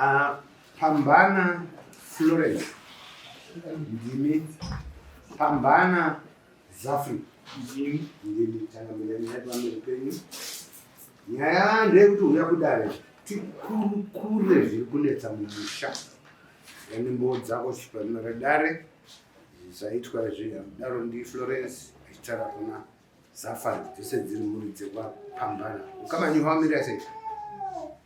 Ah, Pambana Florence ndimi Pambana Zafri ndimi ndimi tangamira nyaya pamberi penyu nyaya ndeyekuti uya kudare tikurukure zviri kunetsa mumusha yani mbowo dzako chipanima redare zvaitwa izvi daro ndi Florence achitara kuna Zafari dzese dziri mhuri dzekwa Pambana ukamanyuha wamira sei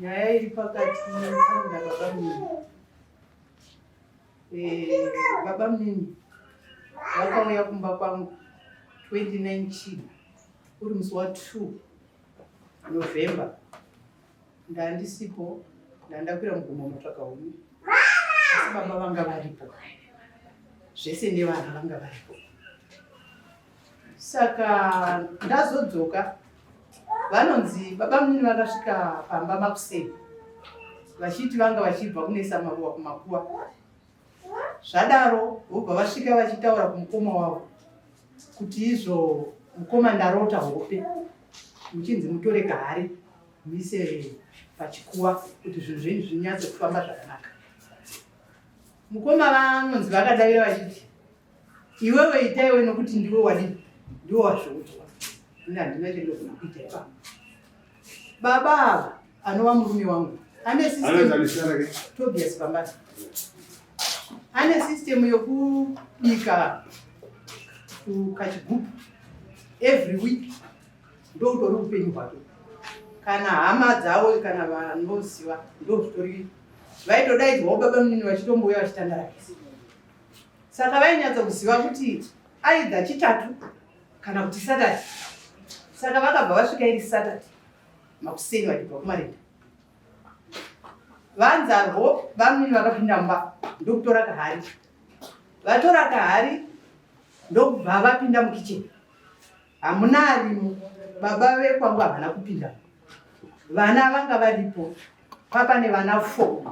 nyaya iri pakati na baba mnini eh, baba mnini vakauya kumba kwangu 29 chii uri musi wa 2 november ndandisipo ndandakwira mugomo motsvaka huni asi baba vanga varipo zvese nevana vanga varipo saka ndazodzoka vanonzi baba munini vakasvika pamba makuseni vachiti vanga vachibva kunesa maruwa kumakuva zvadaro vobva vasvika vachitaura kumukoma wavo kuti izvo mukoma ndarota hope muchinzi mutore kahari muise pachikuwa kuti zvinhu zvenyu zvinyatse kufamba zvakanaka mukoma vanonzi vakadavira vachiti Iwewe ita iwe nokuti ndiwe wadi ndiwe wazviudzwa. Ini handina chandogona kuita ipa. Baba ava anova murume wangu. Ane system Tobias Bambata. Ane system yokubika kachigubhu every week ndokutori upenyu hwake kana hama dzavo kana vanoziva ndozvitori vaitodaidzwawo baba munini vachitombouya vachitandara kisi saka vainyatsa kuziva kuti aidha chitatu kana kuti satati saka vakabva vasvika iri satati makuseni vachibva kumarenda vanzarwo vamwini vakapinda mumba ndokutora kahari vatora kahari ndokubva vapinda mukicheni Hamuna arimo baba vekwangu havana kupinda. Vana vanga varipo papa nevana four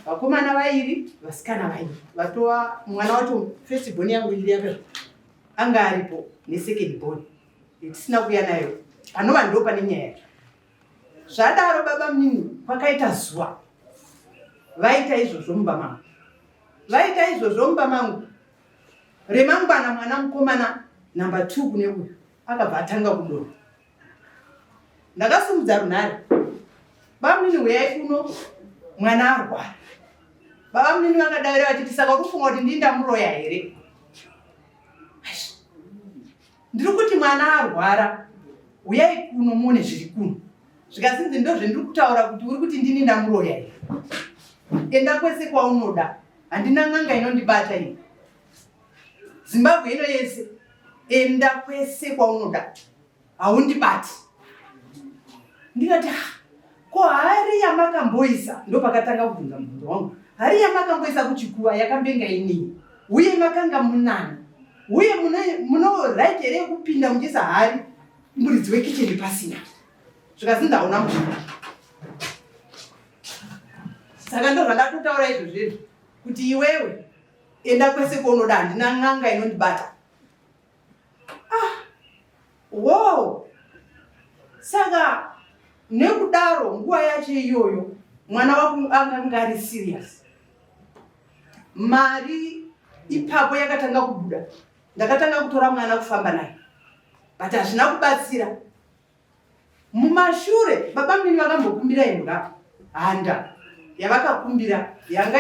vakomana vairi vasikana vairi vatova mwana wacho first born yangu iri yake anga aripo nesecond born itisina kuya nayo panova ndo pane nyaya yacho zvadaro baba mnini kwakaita zuva vaita izvozvo mumba mangu vaita izvozvo mumba mangu remangwana mwana mukomana number 2 kune uyu akabva atanga kudoro ndakasumudza runhare bamnini huyai kuno mwana arwara vavamnini vakadavira vachiti saka urufunga kuti ndindamuroya here Ndiri kuti mwana arwara, huyai kuno muone zviri kuno. Zvikazinzi ndozvendiri kutaura kuti uri kuti ndini ndamuroya here? Enda kwese kwaunoda, handina n'anga inondibata iyi. Zimbabwe ino yese, enda kwese kwaunoda, haundibati. Ndikati, ah, Ko hari yamakamboisa ndopakatanga kubvunza mubvunzo wangu. Hari yamakamboisa kuchikuva yakambenga inini uye makanga munani uye muno right here yekupinda muchiisa hari muridzi wekicheni pasina zvikazi ndaona muzvina saka ndo zvandatotaura izvo zvinhu kuti iwewe enda kwese kwaunoda handina n'anga inondibata Ah, wow. Saka nekudaro nguva yacho iyoyo mwana wako akanga ari serious. Mari ipapo yakatanga kubuda, ndakatanga kutora mwana kufamba naye, but hazvina kubatsira. Mumashure baba mini vakambokumbira imbwa handa yavakakumbira yanga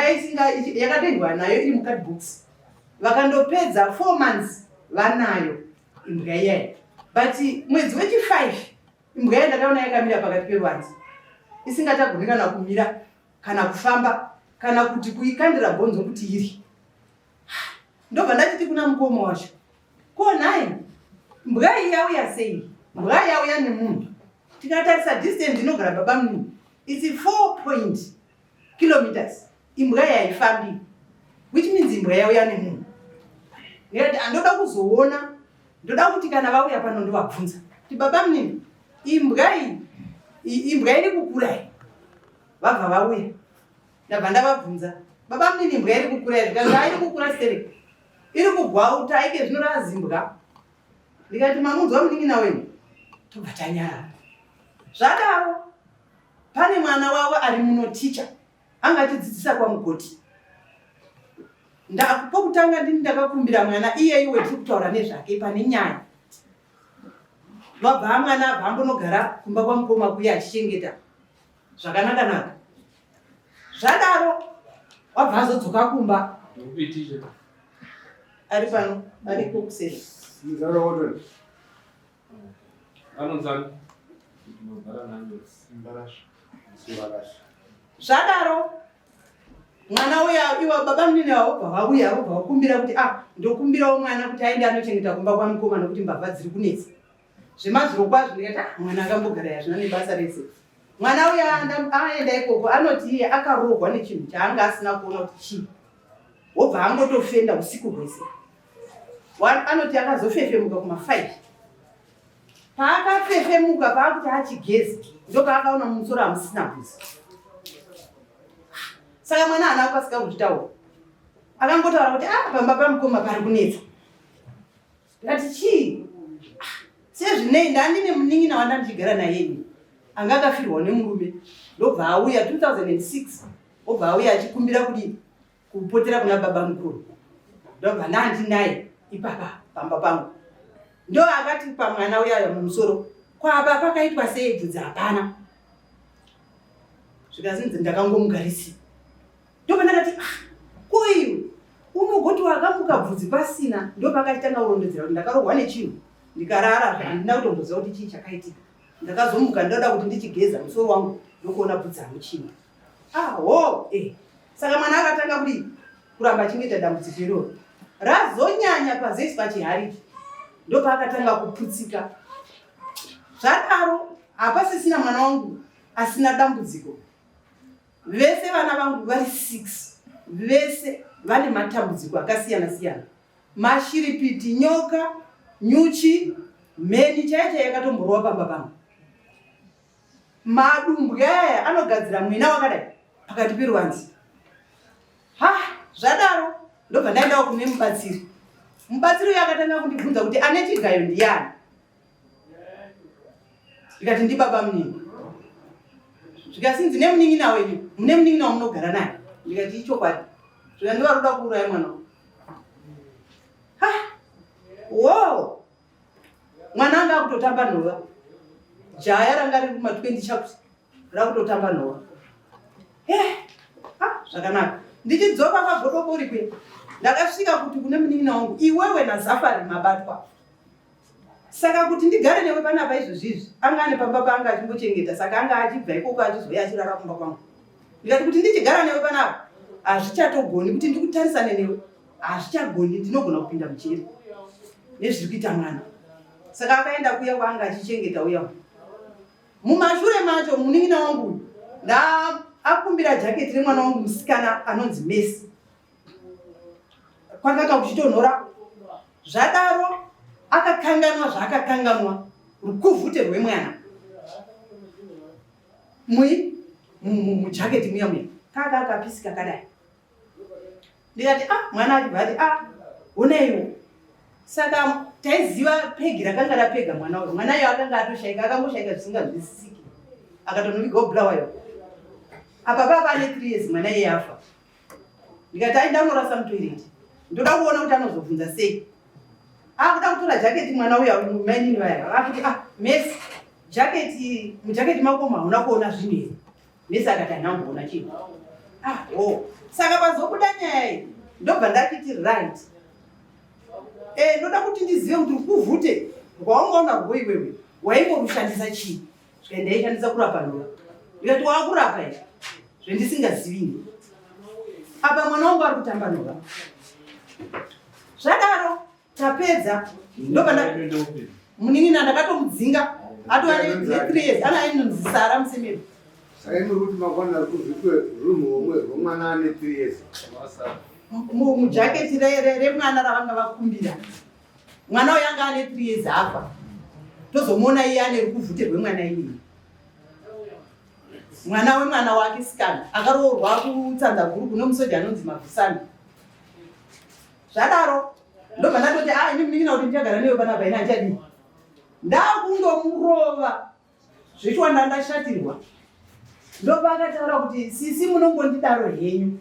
yakatengwa nayo iri mukadbooks vakandopedza four months vanayo imbwa iyayi but mwedzi wechifive imbwa yayi ndakaona yakamira pakati perwanzi isingatagoni kana kumira kana kufamba kana kuti kuikandira bhonzo kuti iri ndobva ndachiti kuna mukoma wacho ko nhai mbwa iyi yauya sei mbwa yauya nemunhu tikatarisa distance inogara baba mnini its four point kilometers imbwa yaifambi which means imbwa yauya nemunhu nekuti andoda kuzoona ndoda kuti kana vauya pano ndovabvunza kuti baba mnini imbwa iyi imbwa iri kukura iyi vabva vauya ndabva ndavabvunza baba mnini mbwa iri kukura iri ndikati airi kukura seri iri kugwauta ike zvino razimbwa ndikati mamunzwa munin'ina wenyu tobva tanyara zvadaro pane mwana wavo ari muno ticha anga achidzidzisa kwamugoti pokutanga ndini ndakakumbira mwana iyeyi wetiri kutaura nezvake pane nyaya vabva mwana abva ambonogara kumba kwamukoma kuya achichengeta zvakanaka naka zvadaro wabva azodzoka kumba ari pano ari kokuseri zvadaro mwana uya iwa baba munini vaobva vauya vaobva vakumbira kuti a ah, ndokumbirawo mwana kuti aende anochengeta kumba kwamukoma nokuti mbavha dziri kunetsa zvemazuro kwazvo ndikati ah, mwana akambogara yazvina nebasa rese mwana uya aenda ikoko anoti iye akarohwa nechinhu chaanga asina kuona kuti chii wobva angotofenda usiku hwese anoti akazofefemuka kumafive paakafefemuka paakuti achigezi ndopaakaona mumusoro hamusina bhuzi saka mwana ana akasika kuzvitaura akangotaura kuti a ah, pamba pamukoma pari kunetsa ndikati chii ah, sezvinei ndandine munin'ina wandandichigara naye ini anga akafirwa nemurume ndobva auya 2006 obva auya achikumbira kuti kupotera kuna baba mukuru ndobva ndandinaye ipapa pamba pangu ndo akati pamwana uyayo mumusoro kwaba pakaitwa sei bvudzi hapana zvikazinzi ndakangomugarisi ndopandakati ah koiwe unogoti wakamuka bvudzi pasina ndopakatitanga kurondedzera kuti ndakarohwa nechinhu ndikarara handina kutomboziva kuti chii chakaitika ndakazomuka ndoda kuti ndichigeza musoro wangu ndokuona bvudzi hamuchina aho ah, eh saka mwana akatanga kudii kuramba achingoita dambudziko iroro razonyanya pazesi pachihariki ndopaakatanga kuputsika zvadaro hapasisina mwana wangu asina dambudziko Vese vana vangu vari six vese vane matambudziko akasiyana siyana, mashiripiti, nyoka, nyuchi, mheni chaiyo chaiyo yakatomborova pamba pangu. Madumbwe aya anogadzira mwina wakadai pakati peruvanzi. Ha, zvadaro ndobva ndaendawo kune mubatsiri. Mubatsiri uyo akatanga kundibvunza kuti ane chigayo ndiyani. ndikati ndibaba munini zvikanzi ndine munin'ina wenyu mune munin'ina wamunogara naye ndikati ichokwadi zvika ndivari kuda kuuraya mwana wo mwana anga akutotamba nhova jaya ranga riri kuma 20 chakuti rakutotamba nhova zvakanaka ndichidzoka kwagodobori kwe ndakasvika kuti kune munin'ina wangu iwewe nazafari mabatwa saka kuti ndigare newe panapa izvozvi izvi anga ane pamba paanga achimbochengeta saka anga achibva ikoko achizouya achirara kumba kwangu ndikati kuti ndichigara newe panapa hazvichatogoni kuti ndikutarisane newe hazvichagoni ndinogona kupinda mujeri nezviri kuita mwana saka akaenda kuya kwaanga achichengeta uya mumashure macho munin'ina wangu uyu ndaakumbira jaketi remwana wangu musikana anonzi mesi kwakaka kuchitonhora Zvadaro akakanganwa zvaakakanganwa rukuvhute rwemwana mui mujaketi muya muya kaka kapisi kakadai ndikati a ah, mwana achibva ati a ah, onaiwo saka taiziva pegi rakanga rapega mwana uyo mwana iyo akanga atoshaika akangoshaika zvisinganzwisisiki akatonoviga obulawayo apa papa ane three years mwana iye afa ndikati aida kunorasa mutoireti ndoda kuona kuti anozobvunza sei akuda kutora jaketi mwana uya mainini vaya akuti ah mesi jaketi mujaketi makoma hauna kuona zvinhu here mesi akati hanamboona chinhu ah o oh. saka pazobuda nyaya iyi ndobva ndakiti right e ndoda kuti ndizive kuti rukuvhute rwaungaona rwoiwewe waingorushandisa chii Zvika ndaishandisa kurapa ndoa. Ndikati wakurapa izvi zvendisingazivi. Apa mwana wangu ari kutamba ndoa. Zvadaro tapedza ndopanda munin'ina ndakatomudzinga atova ne3 years ana ainonzi sara musemero saimuri kuti makwana ari kuzvipe runhu homwe rwomwana ane 3 years mujaketi remwana ravanga vakumbira mwana uyo anga ane three years afa tozomuona iye ane rukuvhute rwemwana iyeye mwana wemwana wake sikana akaroorwa kutsanza guru kune musoja anonzi mabvusana zvadaro ndobva ndatoti a ah, ini munin'ina kuti ndichagara newe panapa ini andichadii ndakundomurova Zvitwa ndandashatirwa. Ndopa akataura kuti sisi munongondidaro henyu.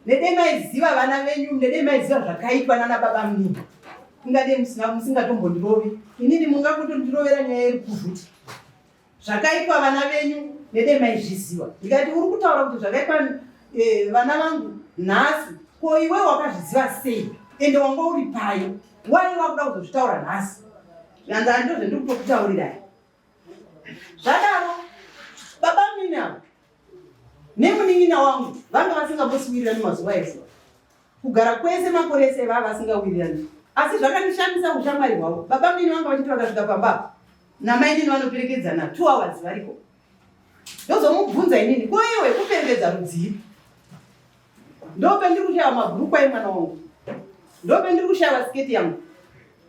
Nede maiziva vana venyu, nede maiziva zvakaitwa nana baba mnini. Ingade musina musingatombondirovi. Inini mungakutondirovera nyaya iri kuvhuti. Zvakaitwa vana venyu nede maizviziva. Ndikati uri kutaura kuti zvakaitwa eh, vana vangu nhasi ko iwe wakazviziva sei ende wanga uri payo wai wakuda kuzozvitaura nhasi anza ndozvendiri kutokutaurirai zvadaro baba mine avo nemunin'ina wangu vanga vasingambosiwirirani mazuva ese kugara kwese makore ese vava vasingawirirani asi zvakandishamisa ushamwari hwavo baba mine vanga vachiti vakasvika pamba namai nini vanoperekedzana two hours variko ndozomubvunza inini koyewe kuperekedza rudzii ndopendiri kushaiwa mabhurukwa emwana wangu ndopendiri kushaiwa siketi yangu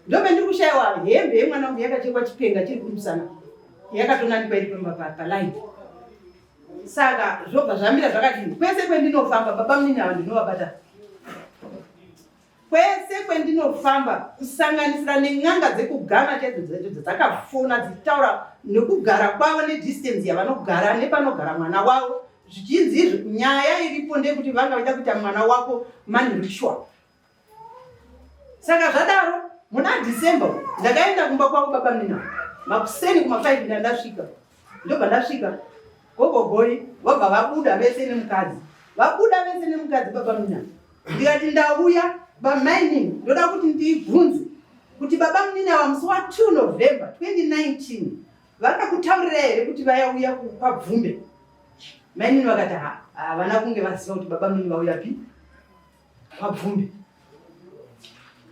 ndopendiri kushaiwa hembe yemwana wangu yakachekwa chipenga chiri kumusana yakatonanikwa iri pamba palaini saka zvobva zvamira zvakadini kwese kwendinofamba baba munini ava ndinovabata Kwese kwendinofamba kusanganisira nen'anga dzekugana chaidzo dzaidzo dzakafona dzichitaura nekugara kwavo nedistance yavanogara nepanogara mwana wavo zvichinzi izvo nyaya iripo ndeyekuti vanga vaida kuita mwana wako mani ritual saka zvadaro muna december ndakaenda kumba kwavo baba mina makuseni kuma 5 ndandasvika ndobva ndasvika Gogo Goi vabva vabuda vese nemukadzi. Vabuda vese nemukadzi baba Mina. Ndikati ndauya bamainini ndoda kuti ndibvunze kuti baba Mina vamusi wa 2 November 2019 vakakutaurira here kuti vayauya kwabvumbe? Mainini vakati havana kunge vaziva kuti baba Mina vauya pi kwabvumbe.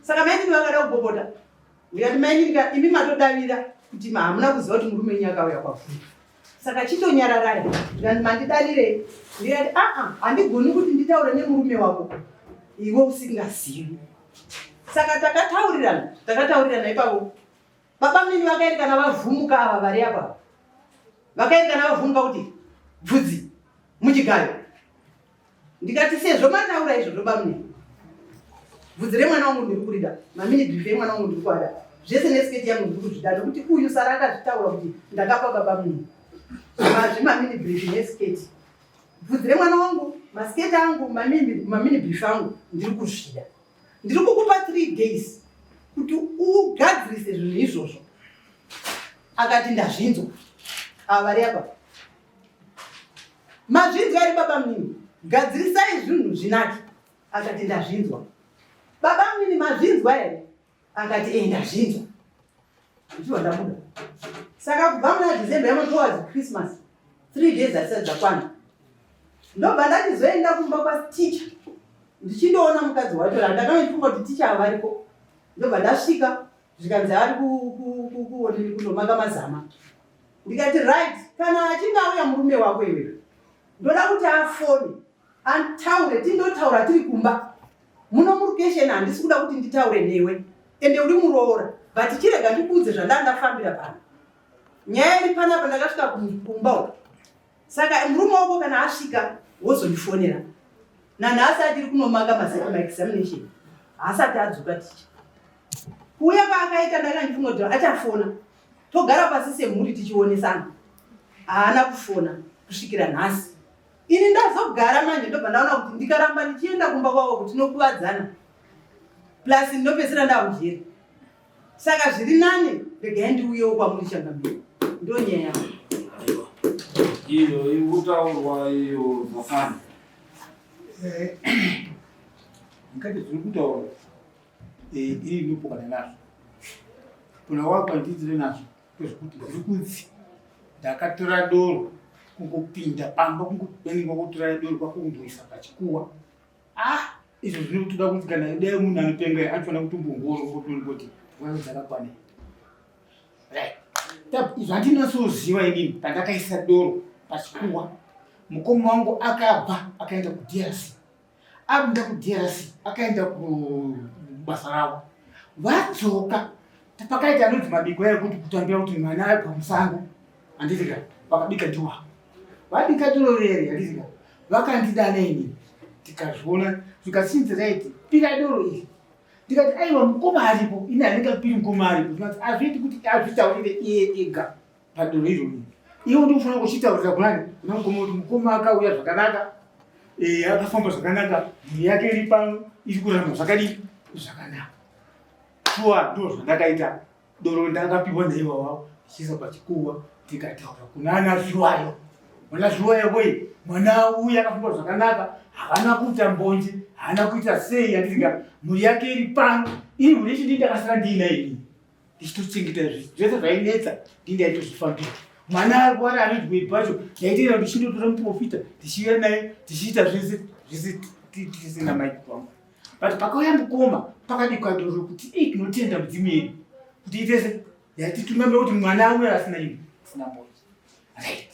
Saka mainini vakada kubobota ndikati maini ndika imi matodavira kuti hamuna kuziva kuti murume wenyu akauya kwafuna saka chitonyararai ndikati mandidavirei ndikati aa handigoni kuti nditaure nemurume wako iwe usingazivi saka takataurirana takataurirana ipapo baba mini vakaerekana vavhumuka ava vari apa vakaerekana vavhumuka kuti bvudzi muchigayo ndikati sezvo mataura izvozvo bamune bvudzi remwana wangu ndiri kurida maminidhi ife mwana wangu ndiri kuada zvese nesiketi yangu ndiri kuzvida nokuti uyu sara akazvitaura kuti ndakapa baba munhu mazvi mamini brifi nesiketi bvudzi remwana wangu masiketi angu mamini brifi angu ndiri kuzvida ndiri kukupa three days kuti ugadzirise zvinhu izvozvo akati ndazvinzwa ava vari apa Mazvinzwa ri baba mnini, gadzirisai zvinhu zvinaki. Akati ndazvinzwa. Baba mnini mazvinzwa here? Akati e ndazvinzwa. Ndichiwa ndabuda. Saka kubva muna December yamwe towards Christmas, three days asati dzakwana. Ndobva ndatizoenda kumba kwaticha ndichindoona mukadzi wacho ra ndakaifunga kuti ticha avariko ndobva ndasvika zvikanzi ari kuonini kunomaka mazama ndikati right kana achinge auya murume wako iwe ndoda kuti afone ataure tindotaura tiri kumba muno murukesheni handisi kuda kuti nditaure newe ende uri muroora but chirega ndikuudze zvandaa ndafambira pano nyaya iri panapa ndakasvika kumba uko saka murume wako kana asvika wozondifonera nanhasi atiri kunomaka mazeko maexamination haasati adzoka ticha kuuya kwaakaita ndakandifungoti achafona togara pasi semhuri tichionesana haana kufona kusvikira nhasi ini ndazogara manje ndobva ndaona kuti ndikaramba ndichienda kumba kwavo kuti tinokuvadzana plus ndinopedzisira ndakujeri saka zviri nani regai ndiuyewo kwamuri changambiri ndo nyaya yavo iyo ikutaurwa iyo zvafana eh, ngati zviri kutaurwa Eh, iri ndopokana nazvo kuna wako andiitire nazvo kwezvokuti ndiri kunzi ndakatora doro kungopinda pamba kungobenga kutora doro kwakungoisa pachikuwa ah izvo zvinotoda kuti kana dai munhu anopenga anofanira kutombongoro ngotonikoti mwana dzakakwana izvo handinasoziva inini pandakaisa doro pachikuwa mukoma wangu akabva akaenda kudrc akuenda kudrc akaenda kubasa ravo vadzoka pakaita anonzi mabiko ayo kuti kutambira kuti mwana ayo pamusango handiti ka vakabika dura vabika duro rere handiti ka vakandidana ini tikazviona zvikasinzi raiti pira doro iri ndikati aiwa mukoma aripo ini handingapiri mukoma aripo azviiti kuti azvitaurire iye ega padunhu irori iwo ndikufanira kuchitaurira kunani kuna mukoma kuti mukoma akauya zvakanaka eh, akafamba zvakanaka mhuri yake iri pano iri kurarama zvakadii zvakanaka shuwa ndoo zvandakaita doro ndakapiwa naiwa wavo ndichiisa pachikuwa ndikataura kunana zviwayo mwana zviwayo boyi mwana uya akafamba zvakanaka havana kuita mbonje haana kuita sei yandisinga mhuri yake iri pano iri mhuri chindii ndakasara ndiinaini ndichitochengeta zvinhu zvese zvainetsa ndindaitozvifambira mwana arwara anodwei pacho ndaitera ndichindotora muprofita tichiuya naye tichiita zvese zvese tisina maiki kwangu but pakauya mukoma pakadikwadoro kuti i tinotenda mudzimu yedu kuti itese yatitumaira kuti mwana auya asina ini asina moyo Right.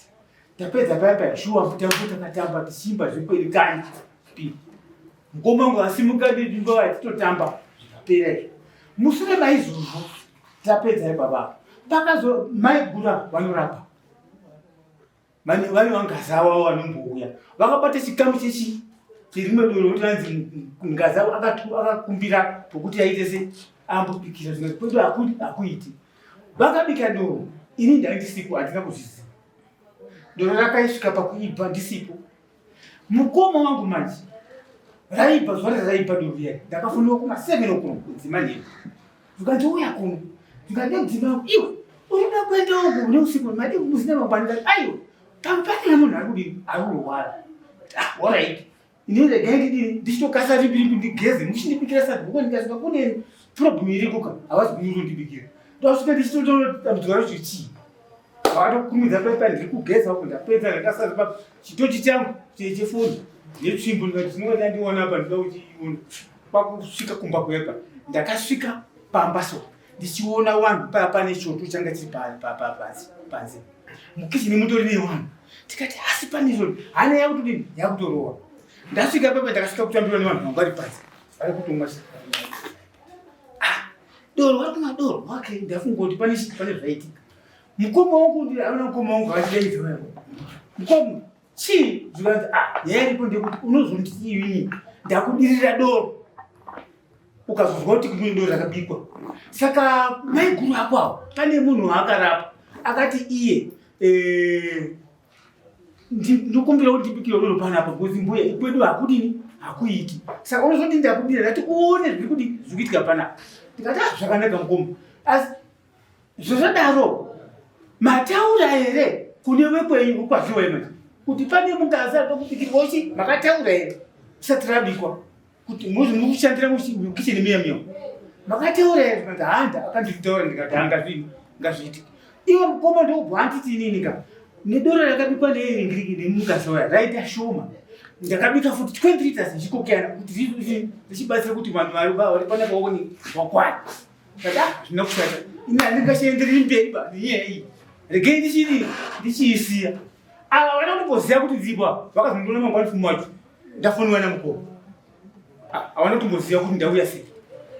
Tapedza paya paya shuwa mutambo takatamba tichimba zvekweri kani. Mukoma wangu asimuka ndidi ngova titotamba zvikapera izvo. Mushure maizvozvo tapedza ibaba. Pakazo mai gura vanorapa. Mani vane vangaza wavo vanombouya. Vakabata chikamu chechi chirimwe doro kuti vanzi ngaza akakumbira pokuti aite se ambopikira zvimwe kwedu hakuiti. Vakabika doro, ini ndaindisipo handina kuzviziva. Doro rakaisvika pakuibva ndisipo. Mukoma wangu manje raibva zuva raraibva doro riya ndakafunira kuma seven o'clock kudzima nhengo. Zvikanzi uya kuno, zvikanzi nekudzima yangu iwe unoda kuenda uku une usiku hwemadi musina mangwanira aiwa pamupani nemunhu ari kudini ari kurwara. Ah, all right. Ini regai ndidini ndichitokasa ripiripi ndigeze muchindibikira sadhuko ndikaziva kune problem irikuka havazi kunyuru ndibikira ndosvika ndichitototambudzwa rocho chii vakatokumidza paipa ndiri kugeza uko ndapedza ndakasaza pa chitochi changu chefoni netsvimbo ndikati zvinova ndandiona apa ndinoda kuchiona kwakusvika kumba kuyepa ndakasvika pamba so ndichiona wanhu paya pane choto changa chiri panze mukizini mutori newanhu tikati hasi pane zvo hana yakutodini yakutorowa ndasvika papa ndakasvika kutambirwa nevanhu vangu vari panze vari kutomwa ah, doro vari kumwa doro okay ndafungoti pane chii pane zvaitika mukoma wangu ndiaona mukoma wangu vachidaidza mukoma chii zvikanzi ah nyaya iripo ndekuti unozondisiiwii ndakudirira doro ukazozwa kuti kumwe doro rakabikwa saka maiguru ako awo pane munhu waakarapa akati iye eh, ndokumbira kuti ndibikire doro panapa bcause mbuya ikwedu hakudini hakuiti saka unozoti ndakudira ndati uone zviri kuti zvikuitika panapa ndikati ah, zvakanaka mukoma asi Zvozodaro mataura here kune vekwenyu ukwaziwa imwe kuti pane mukadzi ari pakubikirwa uchi makataura here usati rabikwa kuti mukushandira mukicheni miya miya makataura here kuti handa akanditaura ndikati hangazvii ngazviitike iwe mukoma ndokubva anditi inini ka nedoro rakabikwa neeringiriki nemukadzi waya raita shoma ndakabika futi 20 liters ndichikokera kuti richibatsira kuti vanhu vari panapa waone wakwana Baba, zvina kushata. Ina ndingashaenderi mberi ba nyaya iyi. Regai ndichiri ndichiisiya. Ava vana kumboziva kuti dzibwa vakazondiona mangwani fumo wacho. Ndafoniwa na mukoma. Hawana kumboziva kuti ndauya sei.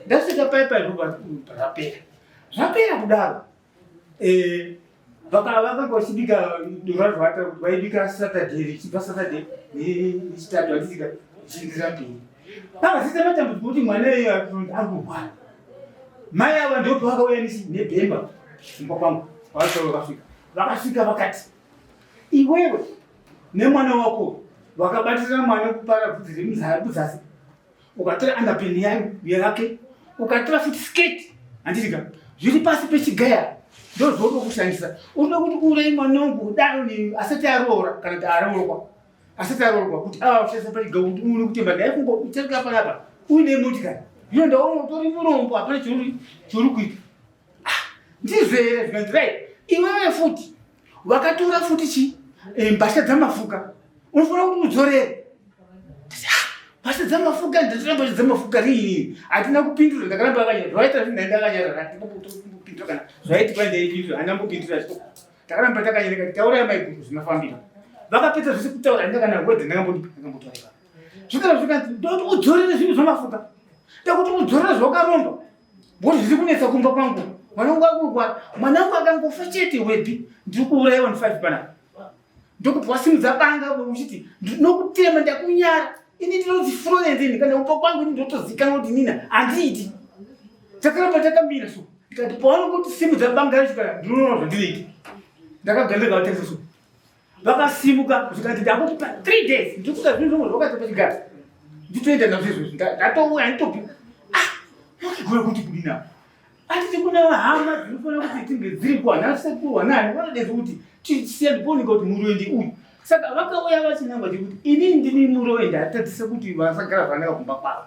Ndasvika paya paya zvapera. Zvapera kudaro. eh vakavaka kwachibika ndovazvata kuti vaibika saturday richibva saturday nechitatu vachisika chiingira mberi pavasisa matambudziko kuti mwana iye arikuhwara mai ava ndopo vakauya nebhemba kumba kwangu vavasoro vakasvika vakasvika vakati iwewe nemwana wako vakabatirira mwana kupara bvudzi remudzasi ukatora underpin yayo yake ukatora futi skirt handitika zviri pasi pechigaya ndozvoda kushandisa unoda kuti urei mwana wangu kudaro ni asati aroora kana kuti aroorwa asati aroorwa kuti ava kushandisa pachigaya kuti uone kutemba ndaya kungo utsarika panapa uine motikari zvino ndaona utori murombo hapana chiri kuita ah, ndizvo here zvikanzirai iwewe futi wakatora futi chi eh, mbasha dzamafuka unofanira kuti udzorere mbasha dzamafuka ndatora mbasha dzamafuka riini hatina kupindura ndakaramba akanyara zvaita zvinhaenda akanyara hatinapindura kana zvaitika ndaipindura handina mbopindura zvito takaramba takanyereka kuti tauraya maiguru zvinofambira vakapedza zvese kutaura handina kana wedze ndakambotoreva zvikara zvikanzi ndoti udzorere zvinhu zvamafuka ndakuti udzorere zvawakaromba What zviri kunetsa kumba kwangu? Mwanangu wakurwa, mwanangu akangofa chete wepi? Ndiri kuuraiwa ni 5 pana. Ndokupwa simu dzabanga uchiti ndinokutema ndakunyara. Ini ndinonzi Florence ini kana upo kwangu ini ndotozikanwa kuti nina handiiti. Takaramba takamira so. Ndikati paona kuti simu dzabanga zvika ndinoona zvandiriite. Ndakagambira kuti so. vakasimuka zvikati ndakukupa three days ndikuda zvinhu zvomwe zvakaita pachigara nditoenda nazvo izvozvi ndatouya nditopi ah, ndokigoya kuti kudina atiti kuna hama dzinofanira kuti tinge dziripo hana sekuru hanani vanodeza kuti tisiya ndiponi kuti muroendi uyu saka vakauya vachinangwa chekuti ini ndini muroendi hatadzise kuti vasagara zvanaka kumba kwavo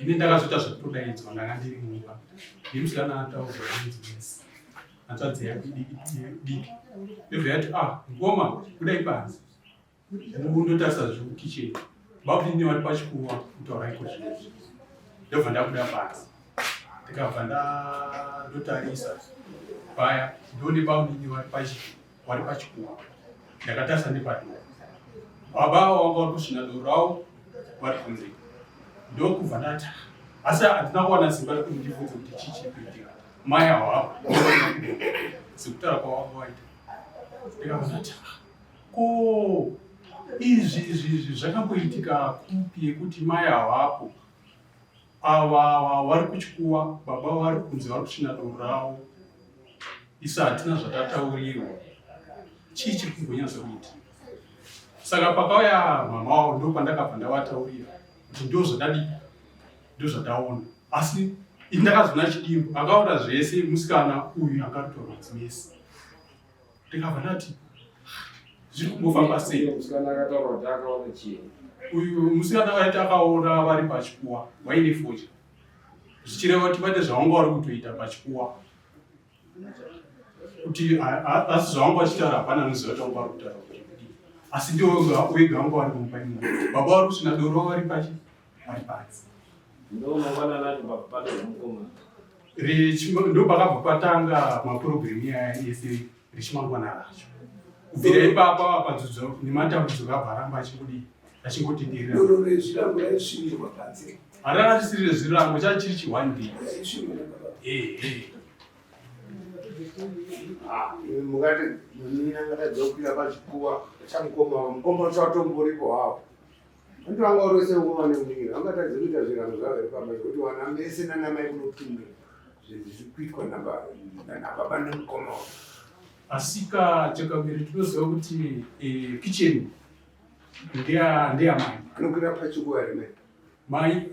ini ndakazoita zvekutodaidzwa ndanga ndiri mumba ndimusikana ataura nezimesi hanzvadzi yake diki ndobva yati ah mkoma kudai panzi ndotarisa zviri kukicheni babuine vari pachikuwa kutaura iko zvino ndobva ndabuda panzi ndikabva ndotarisa paya ndone babuine vari pachikuwa wari pachikuwa ndakatarisa nepadhoo baba avo vanga vari kusvina doro ravo vari kunze ndokubva ndati asi handina kuwana simba rekuti ndibvunze kuti chii chiri kuitika mai avo avo sekutaura kwavanga waita ndikabva ndati ko izvi izvi izvi zvakamboitika kupi yekuti mai avo apo Ava vari kuchikuwa baba vari kunzi vari kuchina doro ravo. Isu hatina zvatataurirwa. Chii chiri kumbonyatsa kuita? Saka pakauya mama wavo ndo pandakabva ndavataurira kuti ndo zvadadii ndo zvataona asi ini ndakazoona chidimbu akaona zvese musikana uyu akarutwa madzimese ndikabva ndati zviri kungofamba sei musikana akataura kuti akaona chii uyu musikana vaiti akaona vari pachikuwa waine fodya zvichireva kuti vaite zvavanga vari kutoita pachikuwa kuti asi zvavanga vachitaura hapana anoziva kuti vanga vari kutaura asi ndiwo wega vanga vari mumba imomo baba vari kusina doro vari pachi ari panze ndopakabva patanga maprogramu iyaya ese richimangwana racho kubvira ipapa vapanzudzo nematambudziko abva aramba achingodi achingotenderera harana risiri rezvirango chachiri chione day mukati nina ngatadziwa kukwira pachikuwa chamukoma mukoma wacho watomburipo hawo Antu vanga orose nguva nemunyika angatadze kuita zvirango zvavo here pamba zvekuti wana mese nanamai kunopinda zviri kuitwa nababa nemukoma wavo asika chakaviri tinoziva kuti eh, kitchen ndeyamai anokwira pachikuva remai mai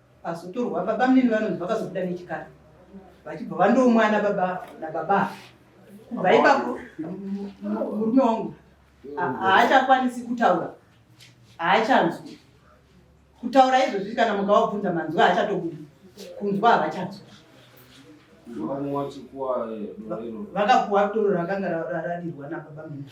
Pazotorwa baba mnini vanonzi vakazobuda nechikara vachibva vandomwa ana baba nababa kubva ipapo murume wangu haachakwanisi kutaura haachanzwi kutaura izvozvi kana mukavabvunza manzwi haachatobudi kunzwa havachanzwa vakapuwa doro rakanga radirwa nababa mnini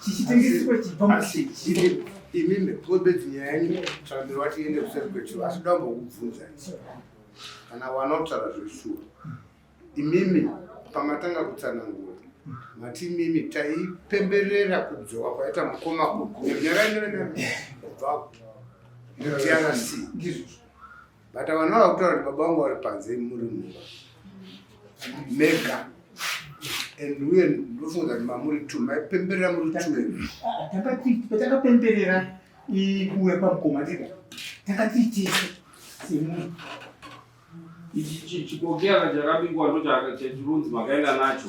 chichitengeswa chibva muchii imi mekobeti nyaya yenyu tsvandiro vatiende kuseri kwechivo asi dambo kubvunza kana wanotaura zveshuwa imimi pamatanga kutsanangura mati imimi taipemberera kubzowa kwaita mukoma kunyarainyorenaa kubva drc ndizvozvo but vanhu vava kutaura kuti baba vangu vari panze muri mumba mega and uye ndofunga kuti mamuri two maipemberera muri twotakapemberera kuuya kwamukoma tega takatiitisa semunhu ichi chikokera chakabikwa ndochachirunzi makaenda nacho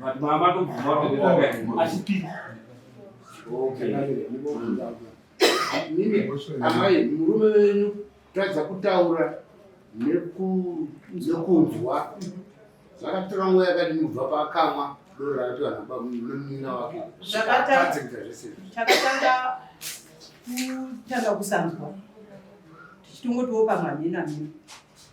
But mama don't tomorrow with that. I speak. Okay. Mimi amai murume wenyu tadza kutaura nekunzwa zvakatora nguva yakadini kubva paakamwa doro rakati vanhu bamunomunina wake zvakatadzikita zvese takatanga kutanga kusanzwa tichitongotiwo pamhamhina mhina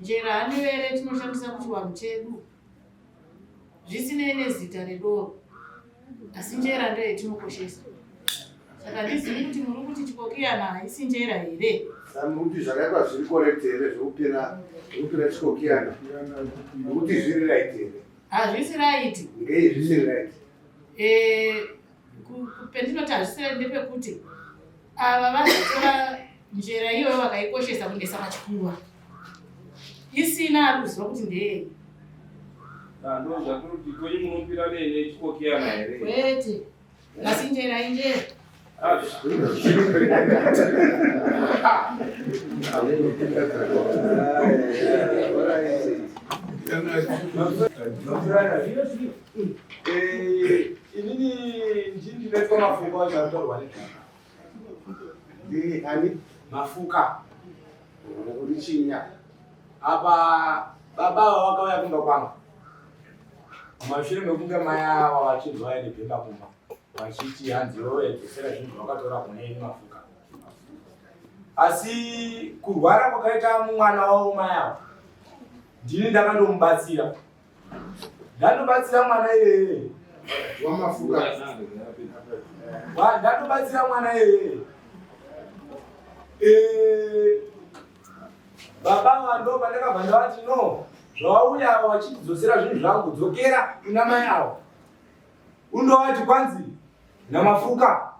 njera hanivere tinoshandisa muchivanhu chedu zvisinei nezita redoro asi njera ndiyo yatinokoshesa saka ndizivi kuti muri kuti chikokiyana haisi njera here kuti zvakaitwa zviri korekti here zvekupira zvekupira chikokiyana nekuti zviri raiti here hazvisi raiti ngei zvisiri raiti eh, Pendinoti hazvisirei ndepekuti ava vanotora njera iyoyo vakaikoshesa kunesa pachikuva isina ari kuziva kuti ndeyei ndozvakuti kwenyu munopira nene chikokiyana here kwete asi njera injera Thank you. Inini ndini ndinoitwa mafuka acho anotorwa negaka. Ndini ani mafuka uri chinya apa baba ava vakauya kumba kwangu mashure mekunge mai ava vachinzwa vaine bhemba kumba vachiti hanzi yoedzesera zvinhu zvakatora kune ini mafuka asi kurwara kwakaita mwana wavo mai ava ndini ndakandomubatsira Ndanobatsira mwana iyeye. Wamafuka. Wa ndanobatsira mwana iyeye. Eh baba vando pandakabva ndavati no zvawauya avo vachindidzosera zvinhu zvangu dzokera kuna mai avo undovati kwanzi namafuka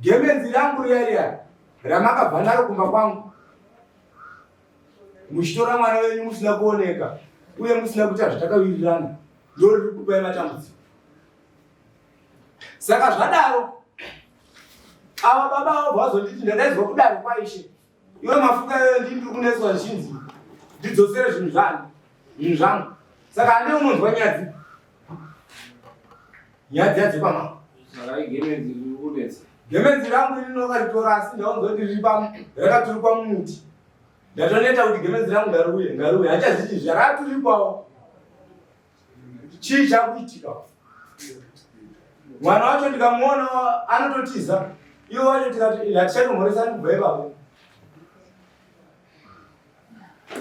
gemenzi rangu riya riya ramakabva naro kumba kwangu muchitora mwana wenyu musina kuoneka uye musina kuita zvatakawirirana ndo riri kupai matambudziko saka zvadaro ava baba avo vazonditi ndadaizwa kudaro kwaishe iwe mafuka iyoyo ndii ndiri kunetswa zvichinzi ndidzosere zvinhu zvanhu zvinhu zvangu saka ane unonzwa nyadzi Nyadzi yadzi pama. Saka igemenzi kunetsa. Gemenzi rangu iri ndokaritora asi ndaonzoti riri pamu rakaturikwa mumuti. Ndatoneta kuti gemenzi rangu ngariuye ngariuye hachaziti zvaraturikwawo. Chii chakuitika? Mwana wacho ndikamuona anototiza. Iwo wacho tikati hatichatomhoresani kubva ipapo.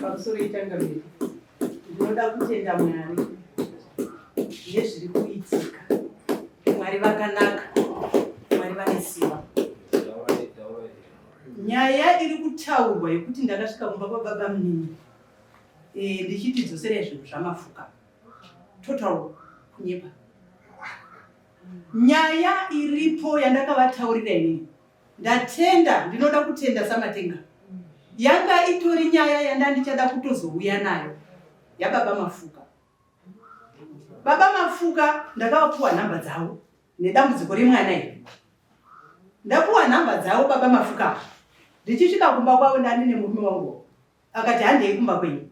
pamusoro itanga mberi ndinoda kutenda mwari nezviri kuitika mwari vakanaka mwari vane simba nyaya iri kutaurwa yekuti ndakasvika kumba kwababa munini eh, ndichiti dzoserai zvinhu zvamafuka total kunyepa nyaya iripo yandakavataurira inini ndatenda ndinoda kutenda samatenga yanga itori nyaya yandandichada kutozouya nayo yababa mafuka baba mafuka ndakavapuwa nhamba dzavo nedambudziko remwana iri ndapuwa nhamba dzavo baba mafuka ndichisvika kumba kwavo ndani nemurume wangu akati handei kumba kwenyu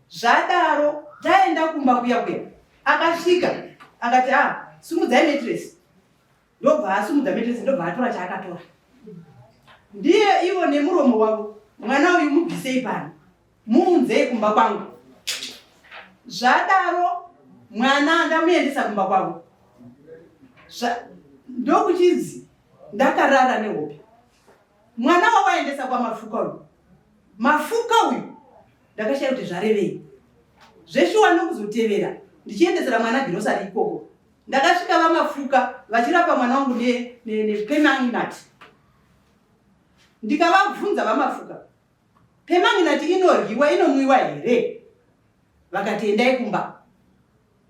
zvadaro taenda kumba kuya kuya akasvika akati a ah, sumudzai metresi ndobva asumudza metresi ndobva atora chaakatora ndiye ivo nemuromo wavo mwana uyu mubvisei pano muunzei kumba kwangu zvadaro mwana ndamuendesa kumba kwavo ndokuchinzi ndakarara nehope mwana wawaendesa kwamafuka uyu mafuka uyu ndakashaya kuti zvarevei zveshuwa ndokuzotevera ndichiendesera mwana girosari ikoko Ndakasvika vamafuka vachirapa mwana wangu nepemanginati ndikavabvunza vamafuka pemanginati inoryiwa inomwiwa here vakati endai kumba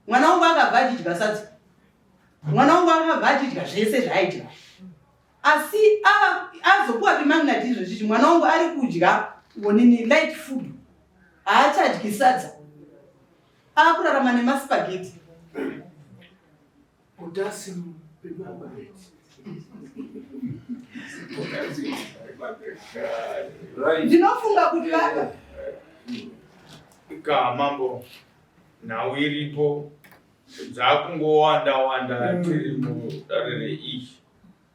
mwana wangu akabva achidya sadza mwana wangu akabva achidya zvese zvaaidya asi azopuwa pemanginati izvo chichi mwana wangu ari kudya onini light food haachadyi sadza akurarama nemaspageti udasi pemabageti ndinofunga kuti vaka ka mambo nhau iripo dzakungowanda wanda tiri mudare reishi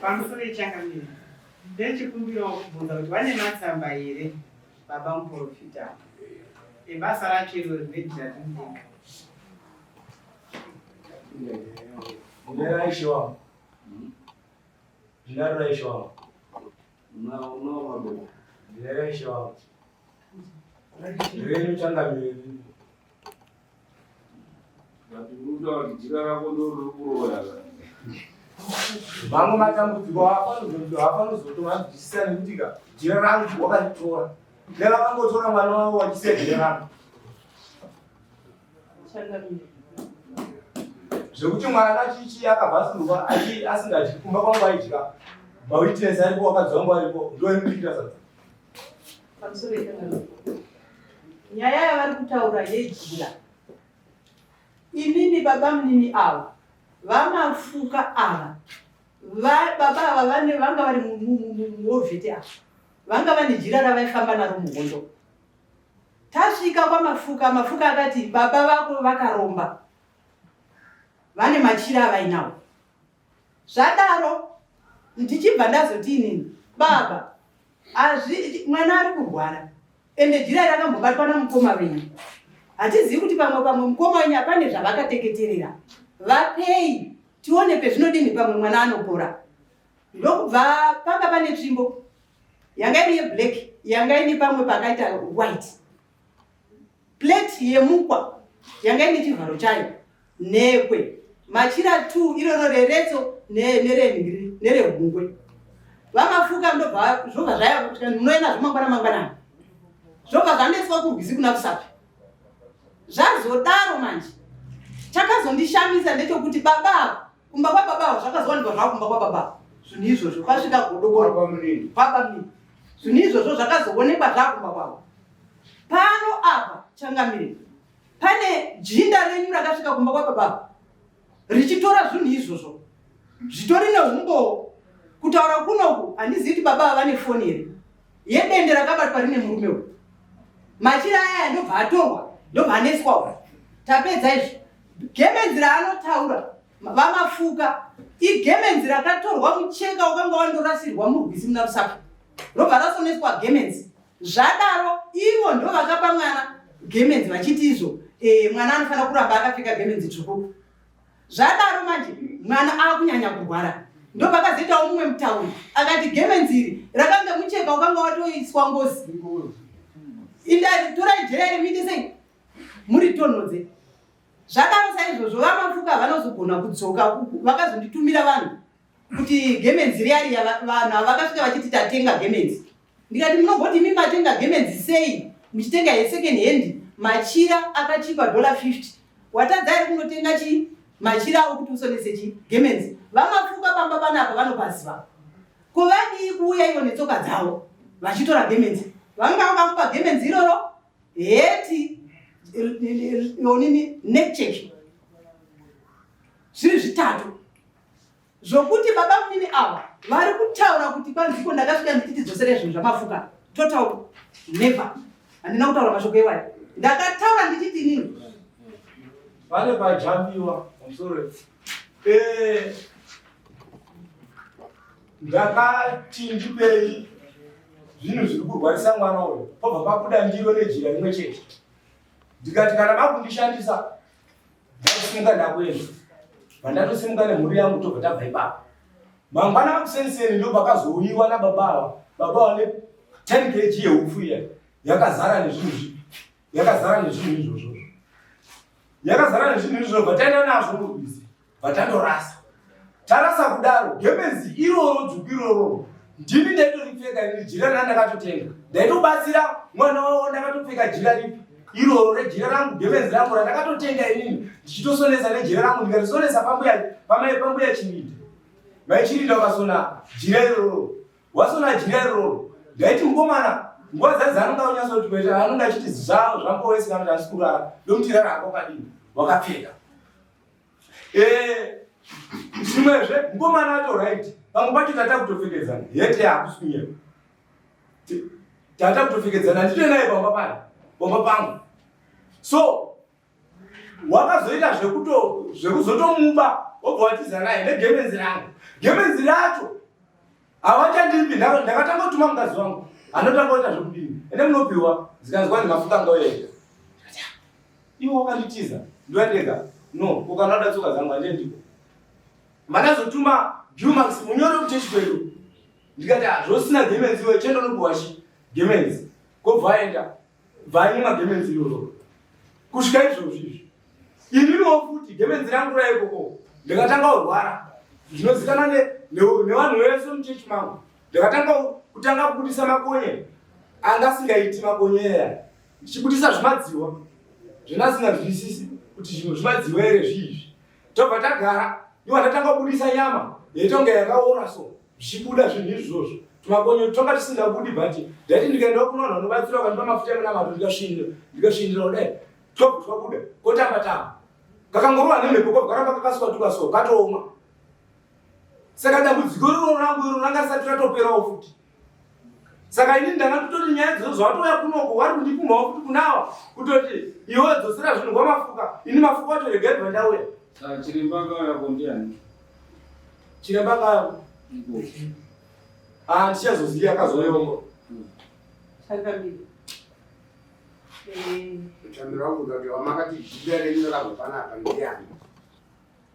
pamusoro yechangamire ndechikumbirawo kubvunza kuti vane matsamba here baba muprofita ebasa racho iro rinoitiratindenga nderaishoa ndinaruraishoa unaomaboko ndineraishoa renu changamire mamwe matambudziko hapanozotoanzwisisa nekuti ka jira rangu wakaritora nevakangotora mwana wavo wachisiya jira rangu zvekuti mwana chichi akabvasurwa asingadyi kumba kwangu aidya mawitness aripo wakadzi wangu aripo ndoemuitira sadza pamusoro nyaya yavari kutaura yejira inini baba munini ava vamafuka ava baba ava vane vanga vari muovheti ava vanga vane jira ravaifamba naro muhondo tasvika kwamafuka mafuka akati baba vako vakaromba vane machira avainawo zvadaro ndichibva ndazoti inini baba azvi mwana ari kurwara ende jira rakambobatwa namukoma venyu hatizivi kuti pamwe pamwe mukoma wenyu apane zvavakateketerera vapei tione pezvinodini pamwe mwana anopora ndokubva panga pane tsvimbo yanga iri yeblack yanga ine pamwe pakaita white plate yemukwa yanga ine chivharo chayo nhekwe machira t iroro reretso nerengri nerehungwe vamafuka ndobva zvobva zvaya kuti munoenda zvomangwana mangwanani zvobva zvanetswa kurwizi kuna kusapi zvazodaro manje chakazondishamisa ndechokuti baba ava kumba kwababa avo zvakazowanikwa zvavo kumba kwababa zvinhu izvozvo kwasvika godokoro baba mnini zvinhu izvozvo zvakazoonekwa zvavo kumba kwavo pano apa changamire pane jinda renyu rakasvika kumba kwababa richitora zvinhu izvozvo zvitori neumbowo kutaura kunoku handizivi kuti baba ava vane foni here yedende rakabatwa rine murume uyu machira aya ndobva atorwa ndobva aneswawo tapedza izvi Gemenzi raanotaura vamafuka igemenzi rakatorwa mucheka wakanga wandorasirwa murwizi muna rusaka robva rasoneswa gemenzi zvadaro ivo ndo vakapa mwana gemenzi vachiti izvo e, mwana anofanira kuramba akapfeka gemenzi tsvuku zvadaro manje mwana akunyanya kurwara ndo pakazoitawo mumwe mutauri akati gemenzi iri rakanga mucheka wakanga watoiswa ngozi indai torai jeri miite sei muri tonhodze zvakaro saizvozvo vamafuka vanozogona kudzoka vakazonditumira vanhu kuti gemenzi riyariya vanhu avakasvika vachiti tatenga gemenzi ndikati munogoti imi matenga gemenzi sei muchitenga yesecond hand machira akachipa dollar 50 watadza iri kunotenga chii machira awo kuti usonese chii gemenzi vamafuka pamba panapa vanopaziva ko vadii kuuya ivo netsoka dzavo vachitora gemenzi vanga vakakupa gemenzi iroro heti onini necheki zviri zvitatu zvokuti baba mnini ava vari kutaura kuti kwanziko ndakasvika ndichiti dzosere zvinhu zvamafuka total never handina kutaura mashoko iwayo ndakataura ndichiti nini vale vajambiwa msore eh. Ndakati ndipei zvinhu zviri kurwarisa mwana uyo, pobva pabuda ndiro nejira rimwe chete. Ndikati kana makundishandisa ndakasimuka ndakuenda. Pandatosimuka nemhuri yangu tobva tabva ipapo. Mangwana akuseniseni ndo pakazouyiwa nababa ava. Baba vane 10 kg yehupfu iya yakazara nezvinhu izvi. Yakazara nezvinhu izvozvo. Yakazara nezvinhu izvozvo taenda nazvo kurwizi. vatandorasa tarasa kudaro gemenzi iroro dzvuku iroro ndini ndaitoripfeka ini jira rina ndakatotenga ndaitobatsira mwana wavo ndakatopfeka jira ripi iroro rejira rangu gemenzi rangu randakatotenga inini ndichitosonesa nejira rangu ndikarisonesa pambuya pamai pambuya chirinda mai chirinda ukasona jira iroro wasona jira iroro ndaiti mukomana nguva dzadzi anonga unyatsoti kuita anonga achiti zvavo zvambowesekana zvandikurara ndomutirara hako kadini wakapfeka eh zvimwezve mukomana wacho right pamwe pacho tata kutopfekedzana hete hakusi kunyeba tata kutopfekedzana ndito naye pamba pano pamba pangu so wakazoita zvekuto zvekuzotomuba wobva watiza naye negemenzi rangu gemenzi racho Hawachandipi ndaro ndakatanga kutuma mukadzi wangu. Anotanga kuita zvokudini? Ende munopiwa zikanzwa ndimafuka ngauya ega. Iwe wakanditiza ndwandega. No, ukana uda tsoka zangu anje ndiko. Manazotuma Dumax munyoro kuchechi kwedu. Ndikati hazvosina ah, gemenzi iwe chendo nokuwashi. Gemenzi. Kobva aenda. bvai mumagemenzi iyoyo kusvika izvozvi izvi ininiwo futi gemenzi rangu raikoko ndikatanga kurwara zvinozikana nevanhu vese muchechi mangu ndikatanga kutanga kubudisa makonye anga asingaiti makonye eya ndichibudisa zvimadziwa zvinasingazwisisi kuti zvimwe zvimadziwa ere zviizvi tobva tagara iwa ndatanga kubudisa nyama yaitonga yakaora so zvichibuda zvinhu izvozvo tumakonyo toka tisingabudi but ndaiti ndikaenda kuno vanhu vanobatsira vakandipa mafuta emunamato ndikasvindira ndikasvindira kudai top twabuda kotamba tamba kakangorova nemhepo ko karamba kakasuka tukaso katooma saka dambudziko iroro rangu iro ranga risati ratoperawo futi saka ini ndanga kutoti nyaya dzozo zvatouya kunoko wari kundipumhawo kuti kunawa kutoti iwe dzosera zvinhu kwamafuka ini mafuka wacho regai bva ndauya chiremba akauya kondiani chiremba akauya ah, ndichazoziva akazoyongo Chamira wangu ndokuti wamakati jida renyu rakubva napa ndiyani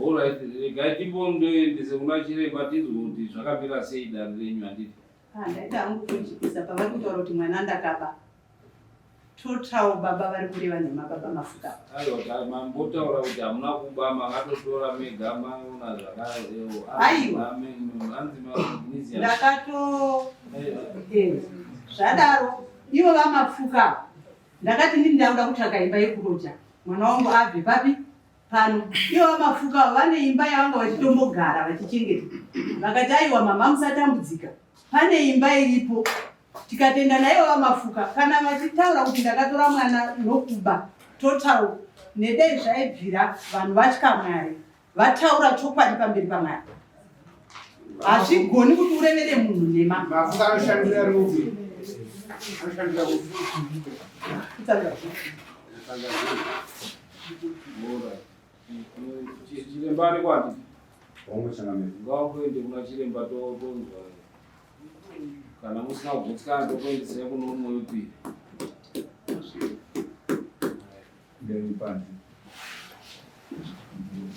Alright, regai timbondoendese kuna chiremba tinzwe kuti zvakamira sei dare renyu handiti. Ah, ndaita hangu kujikisa pavari kutaura kuti mwana ndakaba. Total baba vari kureva nhema baba mafuta. Aiwa mambotaura kuti hamuna kuba makatotora mega maona zvakadero. Aiwa. Ndakato zvadaro ivo vamapfuka ndakati ndini ndauda kutsvaga imba yekuroja mwana wangu abve papi pano ivo vamapfuka vane imba yavanga vachitombogara vachichengeta vakati aiwa mama musatambudzika pane imba iripo tikatenda naivo vamafuka kana vachitaura kuti ndakatora mwana nokuba total nedei zvaibvira vanhu vatya mwari vataura chokwadi pamberi pamwari hazvigoni kuti urevere munhu nhema chiremba arikwati ngakuende kuna chiremba totonzwa kana musina kugutsikana tokuendesai kune umwe wepiri